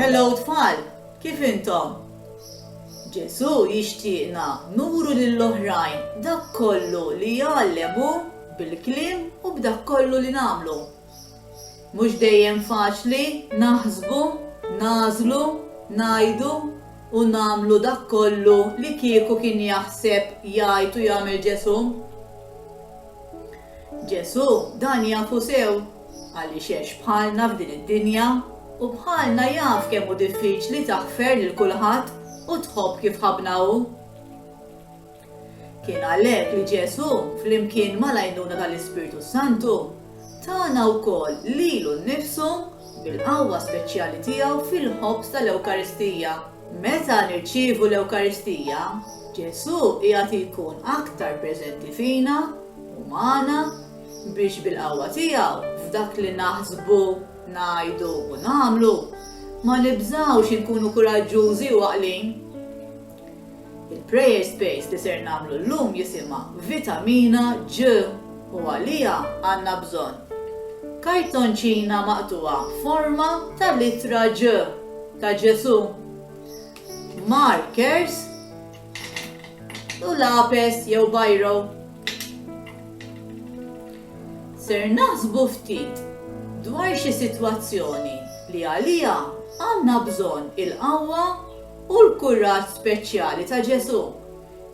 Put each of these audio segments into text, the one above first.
Hello tfal, kif intom? Ġesù jixtieqna nuru lill-oħrajn dak kollu li jgħallem hu bil-kliem u b'dak kollu li nagħmlu. Mhux dejjem faċli naħsbu, nagħżlu, ngħidu, u nagħmlu dak kollu li kieku kien jaħseb, jgħid u jagħmel Ġesù. Ġesù dan jafu sew, għaliex għex bħalna f'din id-dinja, u bħalna jaf kemm hu diffiċli taħfer lil kulħadd u tħobb kif ħabbna hu. Kien għalhekk li Ġesù, flimkien mal-għajnuna tal-Ispirtu s-Santu, tana wkoll lilu nnifsu bil-qawwa speċjali tiegħu fil-ħobż tal-Ewkaristija. Meta nirċievu l-Ewkaristija, Ġesù qiegħed jkun aktar preżenti fina u magħna biex bil-qawwa tiegħu f'dak li naħsbu, ngħidu u nagħmlu ma nibżgħux inkunu kuraġġużi u għaqlin. Il-Prayer Space li ser nagħmlu llum jisimha Vitamina G u għaliha għandna bżonn kartonċina maqtugħa f'forma ta' littra G ta' Ġesù, markers, u lapes jew biro. Ser naħsbu ftit dwar xi sitwazzjoni li għaliha għandna bżonn il-qawwa u l-kuraġġ speċjali ta' Ġesù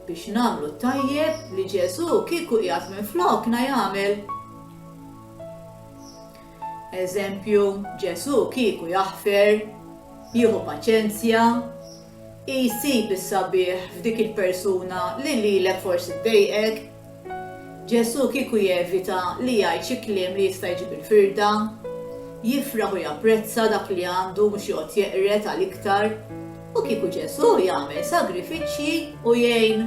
biex nagħmlu tajjeb li Ġesù kieku qiegħed minn flokna jagħmel. Eżempju, Ġesù kieku jaħfer, jieħu paċenzja, Isib is-sabiħ f'dik il-persuna li lilek forsi ddejqek. Ġesù kieku jevita li jgħid xi kliem li jista' jġib il-firda. Jifraħ u japprezza dak li għandu mhux joqgħod jeqred għal iktar. U kieku Ġesù jagħmel sagrifiċċji u jgħin.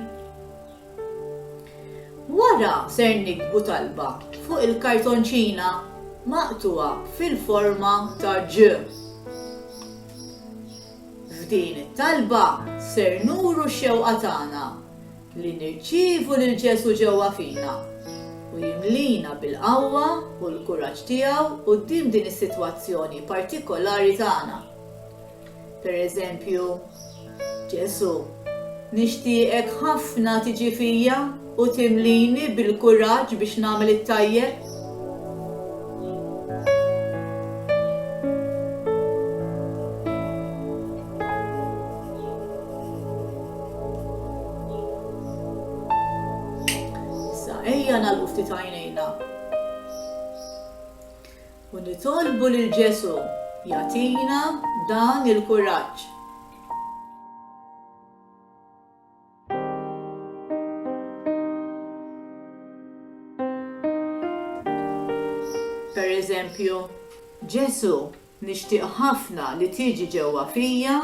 Wara ser nikbu talba fuq il-kartonċina maqtugħa fil-forma ta' G. F'din it-talba ser nuru x-xewqa tagħna li nirċievu lil Ġesù ġewwa fina u jimlina bil-qawwa u l-kuraġġ tiegħu quddiem din is-sitwazzjoni partikolari tagħna. Pereżempju, Ġesù, nixtieqek ħafna tiġi fija. U timlini bil-kuraġġ biex nagħmel it-tajjeb. Issa ejja nagħlqu ftit għajnejna. U nitolbu lil Ġesu jagħtina dan il-kuraġġ. Pereżempju, Ġesù, nixtieq ħafna li tiġi ġewwa fija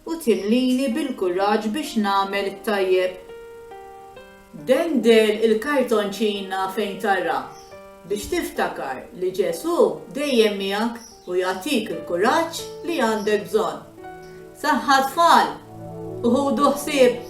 u timlini bil-kuraġġ biex nagħmel it-tajjeb. Dendel il-kartonċina fejn tara biex tiftakar li Ġesù dejjem miegħek. u jagħtik il-kuraġġ li għandek bżonn. Saħħa tfal u ħudu ħsieb!